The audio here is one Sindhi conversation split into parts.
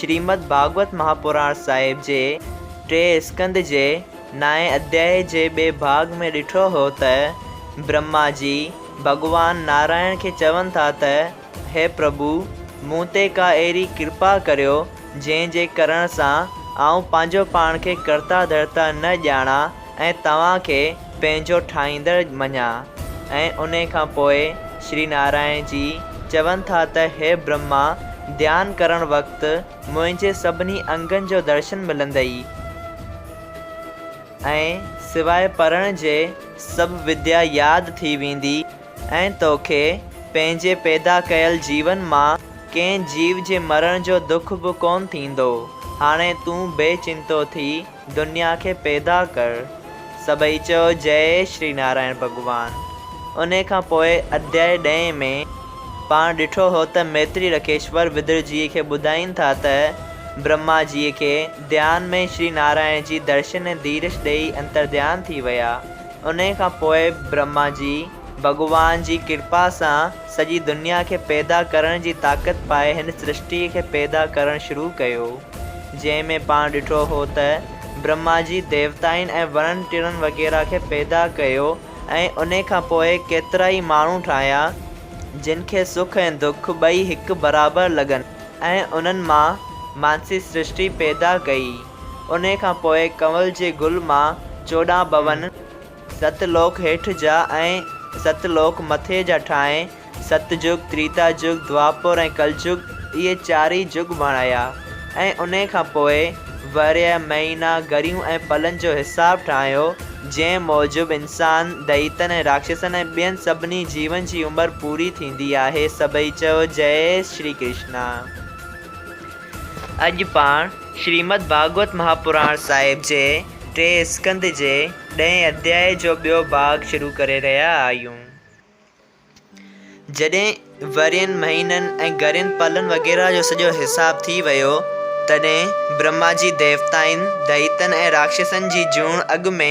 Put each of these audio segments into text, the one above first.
شريمد ڀاڳوت مهاپراڻ صاحب جي ٽئين اسڪنڌ جي نائين اڌيائي جي ٻئي ڀاڳ ۾ ڏٺو هو ته برهما جي ڀڳوان نارائڻ کي چون ٿا ته هي پرڀو مون تي ڪا اهڙي ڪرپا ڪريو جنهن جي ڪرڻ سان آئون پنهنجو پاڻ کي ڪرتا ڌرتا نه ڄاڻان ۽ توهان کي پنهنجو ٺاهيندڙ مڃان ۽ ان کان پوء شري نارائڻ جي چون ٿا ته هي برهما ڌيان ڪرڻ وقت منهنجي سڀني انگن جو درشن ملندئي ۽ سواء پڙهڻ جي سڀ وديا ياد ٿي ويندي ۽ توکي پنهنجي پيدا ڪيل جيون مان ڪنهن جيو جي مرڻ جو دک به ڪونه ٿيندو هاڻي تون بي چنتو ٿي دنيا کي پيدا ڪر. سڀئي چيو جئي شري نارائڻ ڀڳوان. انهي کان پوء اڌيائي ڏهين ۾، پاڻ ڏٺو هو ته ميتري رکيشور وڌر جيء کي ٻڌائين ٿا ته برهما جيء کي ڌيان ۾ شري نارائڻ جي درشن ۽ ديرش ڏيئي انترڌيان ٿي ويا. انهي کان پوء برهما جيء ڀڳوان جي ڪرپا سان سڄي دنيا کي پيدا ڪرڻ جي طاقت پائي هن سرشٽيء کي پيدا ڪرڻ شروع ڪيو. جنهن ۾ پاڻ ڏٺو هو ته برهما جي ديوتائن ۽ وڻن ٽڻن وغيره کي پيدا ڪيو ۽ انهي کان پوء ڪيترائي ماڻهو ٺاهيا جن کي سک ۽ دک ٻئي هڪ برابر لڳن ۽ انهن مان مانسي سرشٽي پيدا ڪئي. انهي کان پوء ڪنول جي گل مان چوڏهن ڀون، ست لوڪ هيٺ جا ۽ ست لوڪ مٿي جا ٺاهي، ست جگ، تريتا جگ، دوآپور ۽ ڪل جگ، اهي چارئي جگ بڻايا ۽ انهي کان پوء ورهيه، مهينا، گهڙيون ۽ پلن جو حساب ٺاهيو، جنهن موجب انسان، دئيتن ۽ راڪشسن ۽ ٻين سڀني جيون جي عمر پوري ٿيندي آهي. سڀئي چيو، جئي شري ڪرشنا! اڄ پاڻ شريمد ڀاڳوت مهاپراڻ صاحب جي ٽئين اسڪنڌ جي ڏهين اڌياء جو ٻيو ڀاڳ شروع ڪري رهيا آهيون. جڏهن ورهين، مهينن ۽ گهڙين پلن وغيره جو سڄو حساب ٿي ويو، تڏهن برهما جي ديوتائن، دئيتن ۽ راڪشسن جي جوڻ اڳ ۾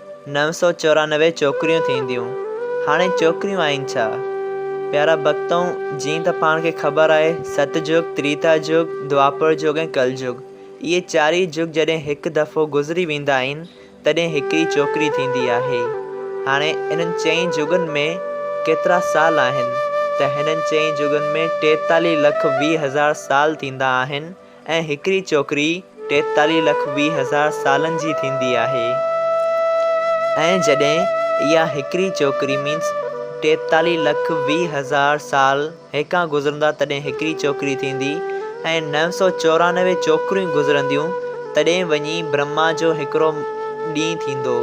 نو سؤ چورانوي چوڪريون ٿينديون، هاڻي چوڪريون آهن ڇا؟ پيارا ڀڳتؤ، جيئن ته پاڻ کي خبر آهي، ست جڳ، تريتا جڳ، دوآپر جڳ ۽ ڪل جڳ، اهي چارئي جڳ جڏهن هڪ دفعو گذري ويندا آهن، تڏهن هڪڙي چوڪري ٿيندي آهي. هاڻي انهن چئين جڳن ۾ ڪيترا سال آهن؟ ته هنن چئين جڳن ۾ ٽيتاليهه لک ويهه هزار سال ٿيندا آهن. ۽ هڪڙي چوڪري ٽيتاليهه لک ويهه هزار سالن جي ٿيندي آهي ۽ جڏهن اها هڪڙي چوڪري مينس ٽيتاليهه لک ويهه هزار سال هيڪان گذرندا تڏهن هڪڙي چوڪري ٿيندي ۽ نو سؤ چورانوي چوڪريون گذرنديون تڏهن وڃي برهما جو هڪڙو ڏينهن ٿيندو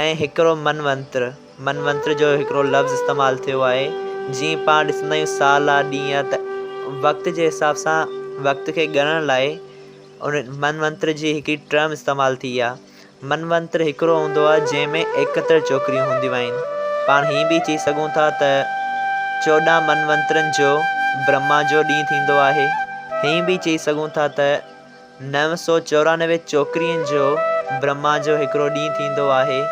۽ هڪڙو منونتر منونتر جو هڪڙو لفظ استعمال ٿيو آهي. جيئن پاڻ ڏسندا آهيون سال آ ڏينهن آ ته وقت جي حساب سان وقت کي ڳڻڻ لاء ان منونتر جي هڪڙي ٽرم استعمال ٿي آ. منونتر هڪڙو هوندو آ جنهن ۾ ايڪهتر چوڪريون هونديون آهن. پاڻ هيئن به چئي سگهون ٿا ته چوڏهن منونترن جو برهما جو ڏينهن ٿيندو آهي. هيئن به چئي سگهون ٿا ته. نو سؤ چورانوي چوڪرين جو برهما جو هڪڙو ڏينهن ٿيندو آهي.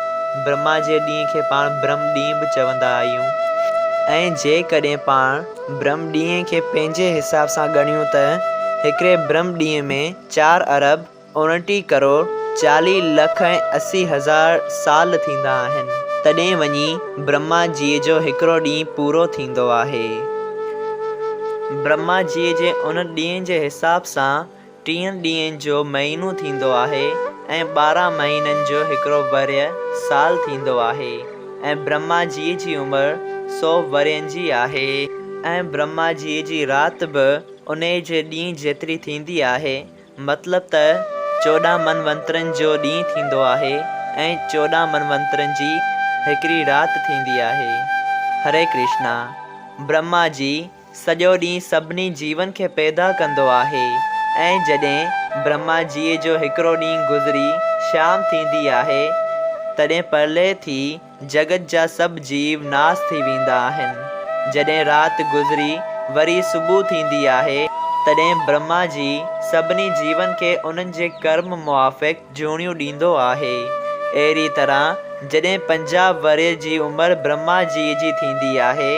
برهما جي ڏينهن کي پاڻ برهم ڏينهن به چوندا آهيون ۽ جيڪڏهن پاڻ برهم ڏينهن کي پنهنجي حساب سان ڳڻيون ته هڪڙي برهم ڏينهن ۾ چار ارب اوڻٽيهه ڪروڙ چاليهه لک ۽ اسي هزار سال ٿيندا آهن تڏهن وڃي برهما جيء جو هڪڙو ڏينهن پورو ٿيندو آهي. برهما جيء جي ان ڏينهن جي حساب سان ٽيهن ڏينهن جو مهينو ٿيندو آهي ۽ ٻارهن مهينن جو هڪڙو ورهيه سال ٿيندو آهي ۽ برهما جيء جي عمر سو ورهين جي آهي ۽ برهما جيء جي رات به انهيء جي ڏينهن جيتري ٿيندي آهي. مطلب ته چوڏهن منونترن جو ڏينهن ٿيندو آهي ۽ چوڏهن منونترن جي هڪڙي رات ٿيندي آهي. هري ڪرشنا. برهما جي سڄو ڏينهن سڀني جيون کي پيدا ڪندو آهي ۽ جڏهن برهما جيء جو هڪڙو ڏينهن گذري شام ٿيندي آهي تڏهن پرلئه ٿي جڳت جا سڀ جيو ناس ٿي ويندا آهن. جڏهن رات گذري وري صبح ٿيندي آهي، تڏهن برهما جي سڀني جيون کي انهن جي ڪرم موافق جهونيون ڏيندو آهي. اهڙيء طرح جڏهن پنجاهه ورهيه جي عمر برهما جيء جي ٿيندي آهي،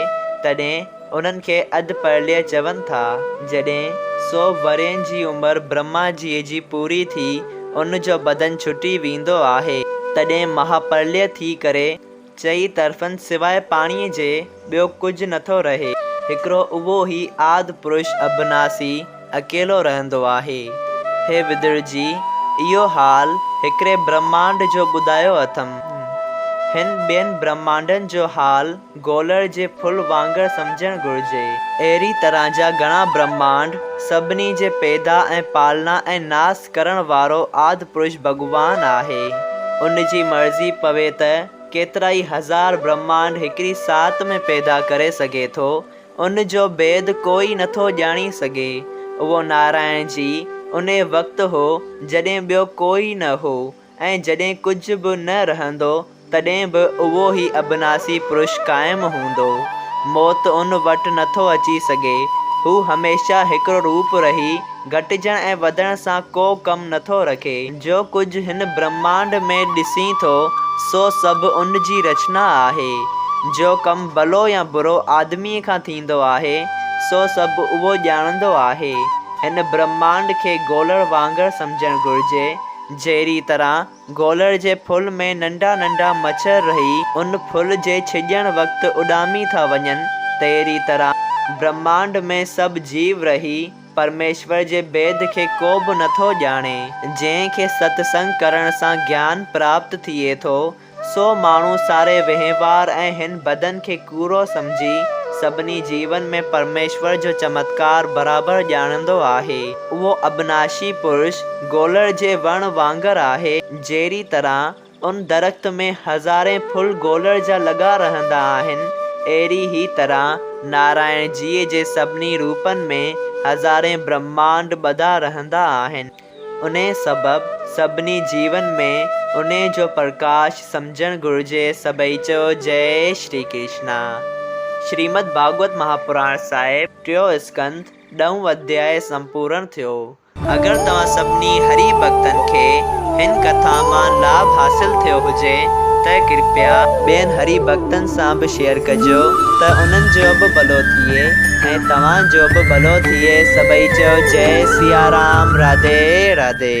تڏهن. انهن کي اڌ پرليه چون ٿا. جڏهن سو ورهين جي عمر برهما جيء جي پوري ٿي ان جو بدن ڇٽي ويندو آهي تڏهن مها پرليه ٿي ڪري چئي طرفن سواء پاڻيء جي ٻيو ڪجهه نٿو رهي. هڪڙو اهو ئي آد پرش اڀناسي اڪيلو رهندو آهي. هي وڌڙجي، اهو حال هڪڙي برهمانڊ جو ٻڌايو اٿم. هن ٻين برهمانڊن جو حال گولڙ جي ڦل وانگر سمجهڻ گهرجي. اهڙي طرح جا گهڻا برهمانڊ، سڀني جي پيدا ۽ پالنا ۽ ناس ڪرڻ وارو آد پرش ڀڳوان آهي. ان جي مرضي پوي ته ڪيترائي هزار برهمانڊ هڪڙي ساعت ۾ پيدا ڪري سگهي ٿو. ان جو ڀيد ڪوئي نٿو ڄاڻي سگهي. اهو نارائڻ جي انهي وقت هو جڏهن ٻيو ڪوئي نه هو ۽ جڏهن ڪجهه به نه رهندو تڏهن به اهو هي ابناسي پرش قائم هوندو. موت ان وٽ نٿو اچي سگهي. هو هميشه هڪڙو روپ رهي گهٽجڻ ۽ وڌڻ سان ڪو ڪم نٿو رکي. جو ڪجهه هن برهمانڊ ۾ ڏسين ٿو، سو سڀ ان جي رچنا آهي. جو ڪم ڀلو يا برو آدميء کان ٿيندو آهي، سو سڀ اهو ڄاڻندو آهي. هن برهمانڊ کي گولڙ وانگر سمجهڻ گهرجي، جهڙيء طرح گولڙ جي ڦل ۾ ننڍا ننڍا مڇر رهي، ان ڦل جي ڇڄڻ وقت اڏامي ٿا وڃن، تهڙيء طرح برهمانڊ ۾ سڀ جيو رهي، پرميشور جي ڀيد کي ڪو به نٿو ڄاڻي. جنهن کي ست سنگ ڪرڻ سان گيان پراپت ٿئي ٿو، سو ماڻهو ساري وهنوار ۽ هن بدن کي ڪوڙو سمجهي، سڀني جيون ۾ پرميشور جو چمتڪار برابر ڄاڻندو آهي. اهو ابناشي پرش گولڙ جي وڻ وانگر آهي، جهڙي طرح، ان درخت ۾ هزارين ڦل گولڙ جا لڳا رهندا آهن، اهڙي ئي طرح نارائڻ جيء جي سڀني روپن ۾ هزارين برهمانڊ ٻڌا رهندا آهن. انهيء سبب سڀني جيون ۾ انهيء جو پرڪاش سمجهڻ گهرجي سڀئي چئو جئي شري ڪرشنا. شريمد ڀاڳوت مهاپراڻ صاحب ٽيون اسڪنڌ ڏهون اڌيائي سمپورڻ ٿيو. اگر توهان سڀني هري ڀڳتن کي هن ڪٿا مان لاڀ حاصل ٿيو هجي ته ڪرپيا ٻين هري ڀڳتن سان به شيئر ڪجو ته انهن جو به ڀلو ٿئي ۽ توهان جو به ڀلو ٿئي سڀئي چئو جئي سيارام راڌي راڌي.